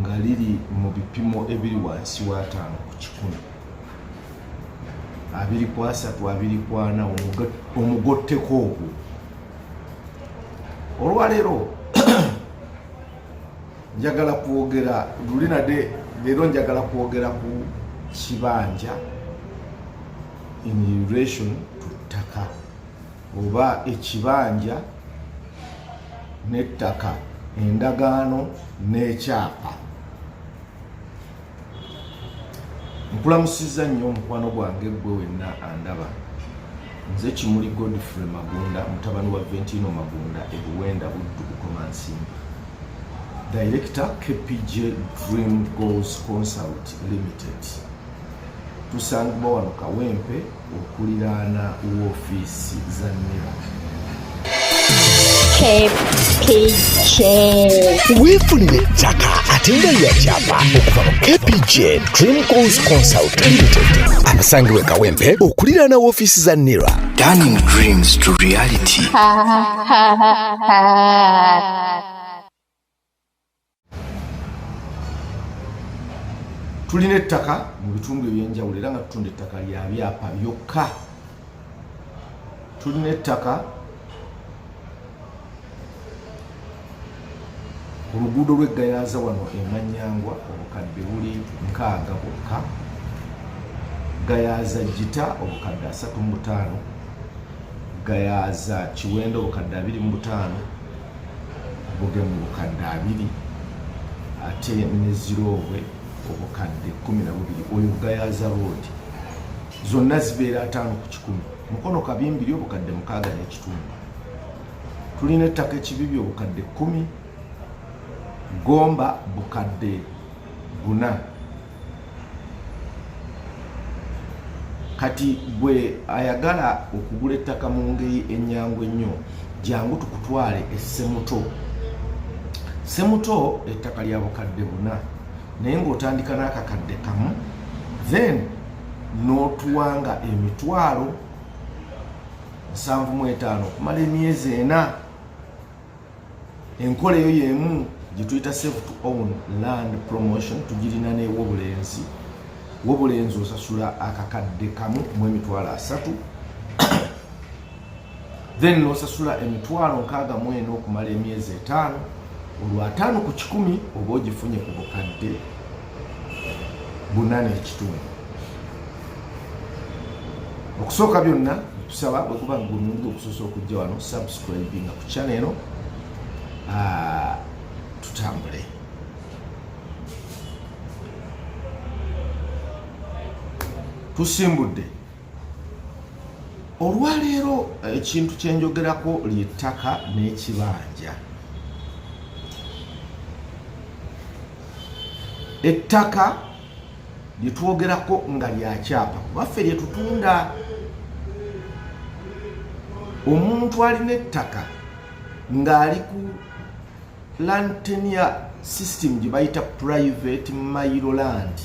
nga liri mu bipimo ebiri wansi w'ataano ku kikumi abiri ku asatu abiri ku ana omugotteko ogwo olwaleero njagala kwogera luli nade leero njagala kwogera ku kibanja in relation to ttaka oba ekibanja n'ettaka endagaano n'ekyapa nkulamusizza nnyo omukwano gwange gwe wenna andaba nze kimuli godfrey magunda mutabani wa ventino magunda ebuwenda buddu bukomansimba director kpj dream goals consult limited tusangibwa wano kawempe okuliraana woofiisi za nera weefunira ettaka ate nga yakyapa okuva mu kpg dream goals consult limited abasangibwa ekawempe okuliraana woofiisi za nera turning dreams to reality tulina ettaka mu bitundu ebyenjawulo era nga tutunda ettaka lya byapa byokka tulina ettaka oluguudo lweggayaza wano emanyangwa obukadde buli nkaaga bwokka gayaza jita obukadde asatu mu butaano gayaza kiwendo obukadde abiri mu butaano buge mu bukadde abiri ate ne ziroobwe obukadde kumi na bubiri oyo gayaza roodi zonna zibeera ataano ku kikumi mukono kabimbiri obukadde mukaaga n'ekitundu tulina ettaka ekibibi obukadde kumi gomba bukadde buna kati gwe ayagala okugula ettaka mu ngeri ennyangu ennyo jangu tukutwale essemuto semuto ettaka lya bukadde buna naye ng'otandika n'akakadde kamu then n'otuwanga emitwalo nsanvu mu etaano okumala emyezi ena enkola eyo yemu gyetuyita safe to own land promotion tugirina newobulenzi wobulenzi osasula akakadde kamu mu emitwalo asatu then nosasula emitwalo nkaaga mu ena okumala emyezi etaano olwataano ku kikumi oba ogifunye ku bukadde buna n'ekitundu okusooka byonna tusaba bwekuba ngulungi okusosa okujja wano subscribinga ku channel eno ah, tutambule tusimbudde olwaleero ekintu eh, kyenjogerako lyettaka n'ekibanja ettaka lyetwogerako nga lyakyapa kubaffe lyetutunda omuntu alina ettaka ng'ali ku lantenia system gye bayita private mailoland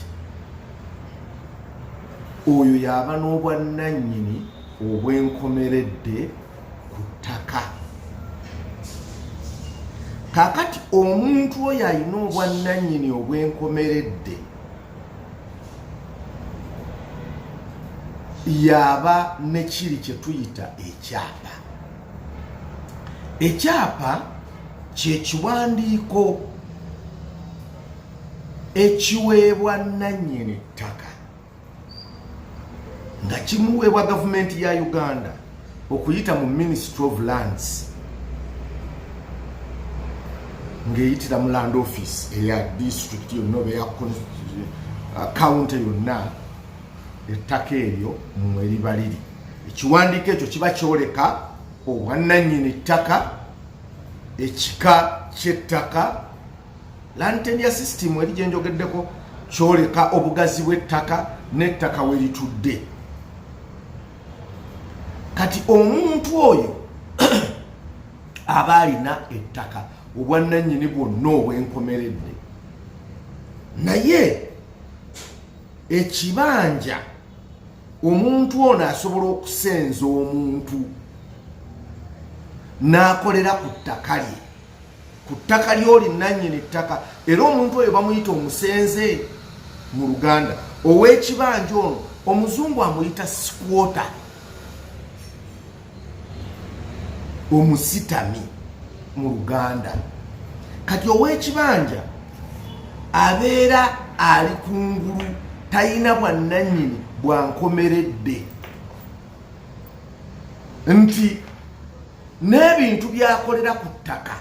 oyo yaba n'obwannannyini obwenkomeredde ku ttaka kakati omuntu oyo alina obwannannyini obwenkomeredde yaba nekiri kye tuyita ekyapa ekyapa kyekiwandiiko ekiweebwa nnannyini ttaka nga kimuweebwa gavumenti ya uganda okuyita mu ministry of lands ng'eyitira mu land office eya district yonna oba eya kawunti uh, yonna ettaka eryo mwe liba liri ekiwandiiko ekyo kiba kyoleka obwannannyini ttaka ekika ky'ettaka lantenia system eri gyenjogeddeko kyoleka obugazi bw'ettaka n'ettaka we litudde kati omuntu oyo aba alina ettaka obwannannyini bwonna obwenkomeredde naye ekibanja omuntu ono asobola okusenza omuntu n'akolera ku ttaka lye ku ttaka lyoli nannyini ttaka era omuntu oyo bamuyita omusenze mu luganda ow'ekibanja ono omuzungu amuyita sikwota omusitami mu luganda kati ow'ekibanja abeera ali ku ngulu talina bwannannyini bwankomeredde nti n'ebintu byakolera ku ttaka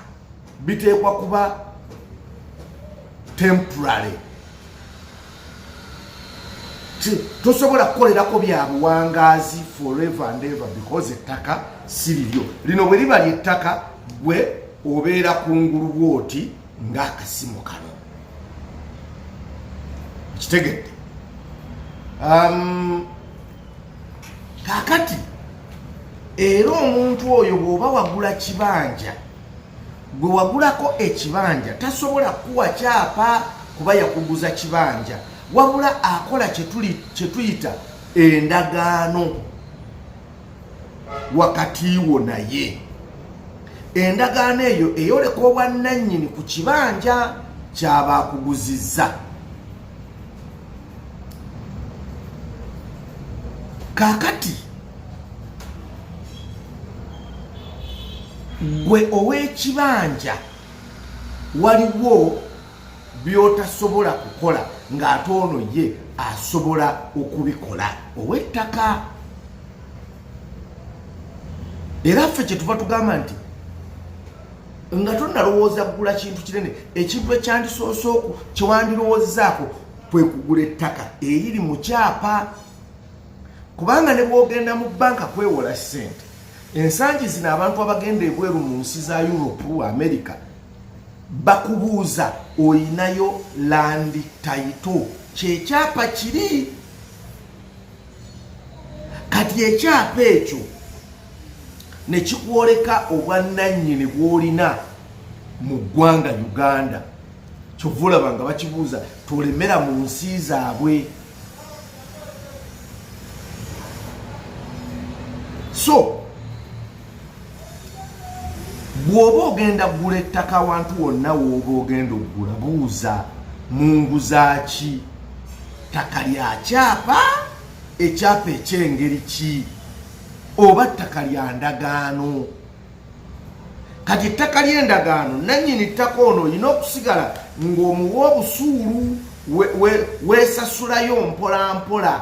biteekwa kuba temporary tosobola kukolerako bya buwangaazi forever and ever because ettaka si liryo lino bwe liba lyettaka gwe obeera ku ngulu bwoti ng'akasimu kano kitegedde um, kakati era omuntu oyo bw'oba wagula kibanja gwe wagulako ekibanja tasobola kuwa kyapa kuba yakuguza kibanja wabula akola kyetuyita endagaano wakati wo naye endagaano eyo eyoleka obwannannyini ku kibanja kyaba akuguzizza kakati gwe ow'ekibanja waliwo by'otasobola kukola ng'ate ono ye asobola okubikola ow'ettaka era ffe kye tuva tugamba nti nga tonalowooza kugula kintu kinene ekintu ekyandisoose oku kyewandirowoozezaako kwe kugula ettaka eriri mu kyapa kubanga ne bwogenda mu banka kwewola ssente ensangi zino abantu abagenda ebweru mu nsi za europe america bakubuuza olinayo landi taito kyekyapa kiri kati ekyapa ekyo ne kikwoleka obwannannyini bw'olina mu ggwanga uganda kyova olaba nga bakibuuza tolemera mu nsi zaabwe so bw'oba ogenda kugula ettaka awantu wonna wooba ogenda okugula buuza mu nguzaaki ttaka lya kyapa ekyapa ekyengeri ki oba ttaka lya ndagaano kati ettaka ly'endagaano nannyini ttaka ono olina okusigala ng'omuwa obusuulu weesasulayo mpolampola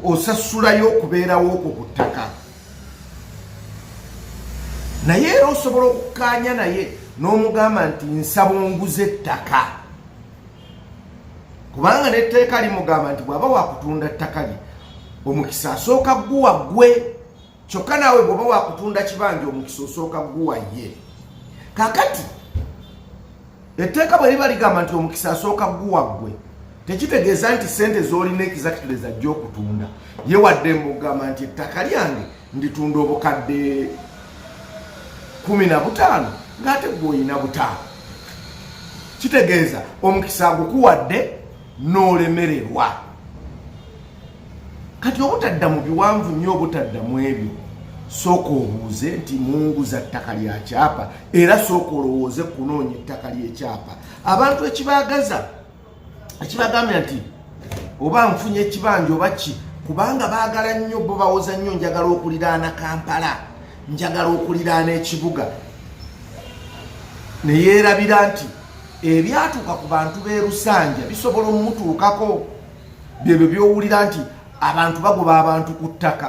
osasulayo okubeerawo okwo ku ttaka naye era osobola okukaanya naye n'omugamba nti nsaba onguza ettaka kubanga n'etteeka limugamba nti bw'aba wakutunda ttaka lye omukisa asooka guwa gwe kyokka naawe bw'oba wakutunda kibanja omukisa osooka guwa ye kakati etteeka bwe liba ligamba nti omukisa asooka guwa gwe tekitegeeza nti sente zolina ekizakituleza jja okutunda ye wadde mbugamba nti ettaka lyange nditunda obukadde kumi na butaano ng'ate gwe olina butaano kitegeeza omukisa agukuwadde n'olemererwa kati obutadda mu biwanvu nnyo obutadda mu ebyo sooka obuuze nti munguza ttaka lya kyapa era sooka olowooze kunoonya ettaka ly'ekyapa abantu ekibaagaza ekibagambye nti oba nfunye ekibanja oba ki kubanga baagala nnyo bo bawoza nnyo njagala okuliraana kampala njagala okuliraana ekibuga ne yeerabira nti ebyatuuka ku bantu b'e lusanja bisobola omutuukako byebyo byowulira nti abantu bagoba abantu ku ttaka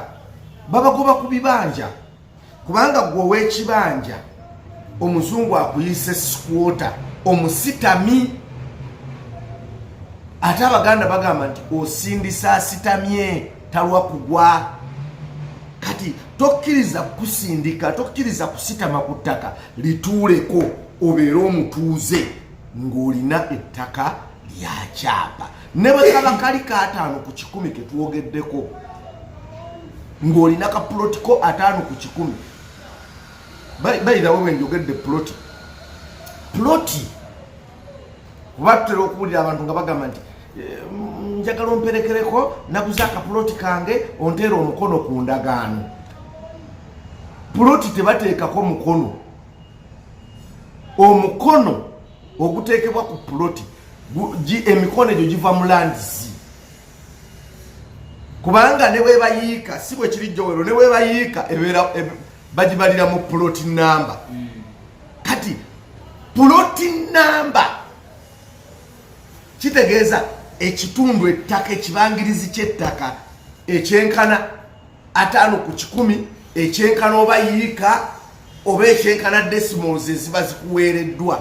babagoba ku bibanja kubanga gwe owekibanja omuzungu akuyise sikwota omusitami ate abaganda bagamba nti osindisa asitamye talwa kugwa kati tokkiriza kusindika tokkiriza kusitama ku ttaka lituuleko obeere omutuuze ng'olina ettaka lya kyapa ne bwe kaba kali kaataano ku kikumi ke twogeddeko ng'olina ka puloti ko ataano ku kikumi bayirawo bwe njogedde puloti puloti kuba tutera okuwulira abantu nga bagamba nti eh, njagala omperekereko naguze akapuloti kange onteera omukono ku ndagaano puloti tebateekako mukono omukono oguteekebwa ku puloti emikono egyo giva mu landisi kubanga ne webayiika si bwe kiri jowero ne webayiika ebeera bagibalira mu puloti namba hmm. kati puloti namba kitegeeza ekitundu ettaka ekibangirizi ky'ettaka ekyenkana ataano ku kikumi ekyenkana oba yiika oba ekyenkana desimals eziba zikuweereddwa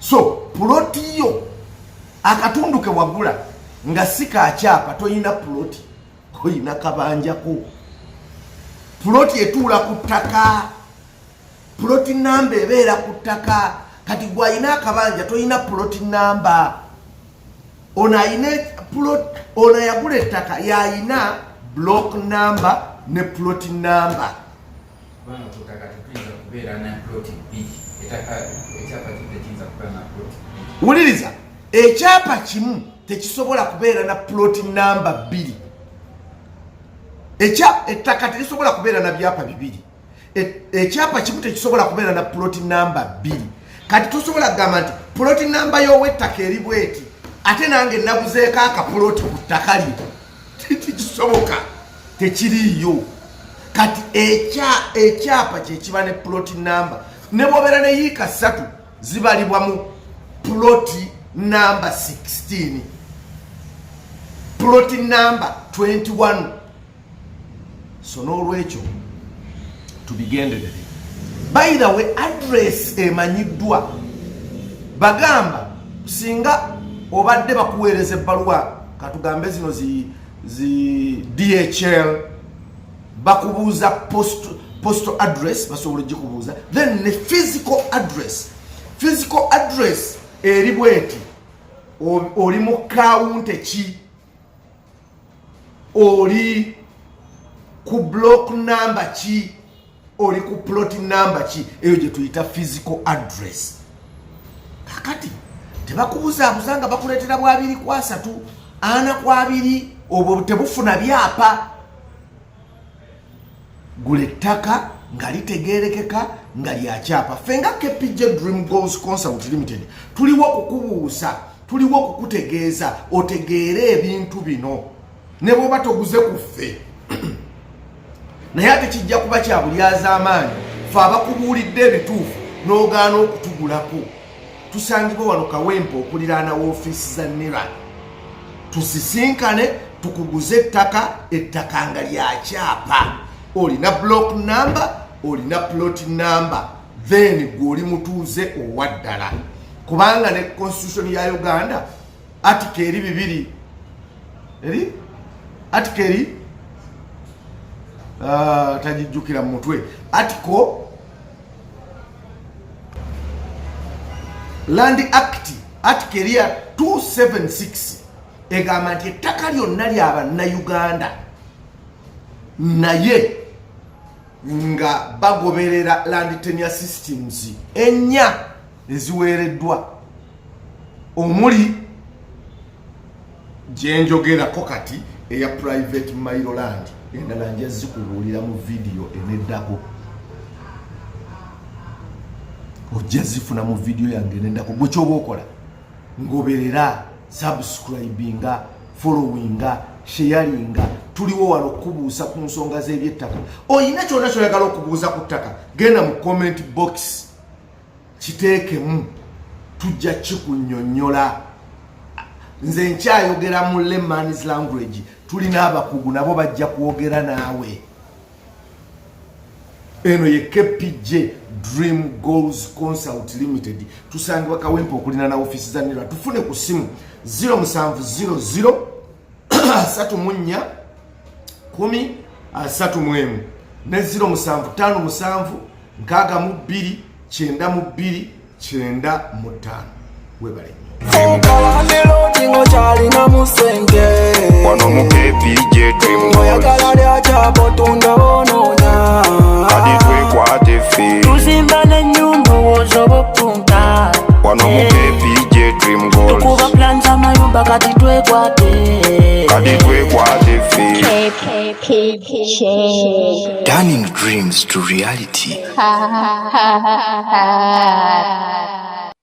so puloti yo akatundu ke wagula nga si kakyapa tolina puloti olina kabanjako puloti etuula ku ttaka puloti namba ebeera ku ttaka kati gwalina akabanja tolina puloti namba ono ayina plot ono yagula ettaka yayina block number ne plot number wuliriza ekyapa kimu tekisobola kubeera na plot number bbiri ettaka terisobola kubeera na byapa bibiri ekyapa kimu tekisobola kubeera na puloti namba bbiri kati tosobola kugamba nti puloti namba y'ow'ettaka eri bweti ate nange naguzeeko akapuloti ku ttaka lye tekisoboka tekiriiyo kati ekyapa kyekiba ne puloti namba ne bwobeera ne yiika ssatu zibalibwa mu puloti namba 16 puloti namba 21 so n'olwekyo tubigenderere by the way address emanyiddwa bagamba singa obadde bakuweereza ebbaluwa katugambe zino zi, zi dhl bakubuuza post, postal address basobola ogikubuuza then ne physical address physical address eri bweti oli mu kawunte ki oli ku block number ki oli ku plot number ki eyo gye tuyita physical address kakati tebakubuzaabuza nga bakuleetera bwabiri ku asatu ana ku abiri obwo tebufuna byapa gula ettaka nga litegeerekeka nga lyakyapa ffe nga kpj dream goals consult limited tuliwo okukubuusa tuliwo okukutegeeza otegeere ebintu bino ne bwoba toguze ku ffe naye ate kijja kuba kyabulyazamaanyi fe abakubuulidde ebituufu n'ogaana okutugulako tusangibwa wano kawempe okuliraana woofiisi za nira tusisinkane tukuguze ettaka ettaka nga lyakyapa olina block number olina plot number then gwe oli mutuuze owaddala kubanga ne constitution ya uganda atika eri bibiri eri atika eri uh, ah, tagijjukira mu mutwe atiko Land Act Article erya 276 egamba nti ettaka lyonna lya bannayuganda naye nga bagoberera land tenure systems ennya eziweereddwa omuli gyenjogerako kati eya private mailoland endala nja zikubuulira mu vidiyo eneddako ojja zifuna mu vidiyo yange eneddako gwe kyoba okola ngoberera subscribinga followinga sheyalinga tuliwo wano okukubuusa ku nsonga z'ebyettaka olina kyona kyoyagala okubuuza ku ttaka genda mu comment box kiteekemu tujja kikunyonyola nze nkyayogera mu lemans language tulina abakugu nabo bajja kwogera naawe eno ye kpj dream goals consult limited tusangibwa kawempe okulina na ofisi za nira tufune ku simu 0700 asatu mu nnya kumi asatu mu emu ne ziro musanvu ttaano musanvu nkaaga mu bbiri kyenda mu bbiri kyenda mu ttaano webale nnyo ta wano mu kpj dream goals tukuba plan za mayumba kati twekwate kati twekwate ffe Turning dreams to reality.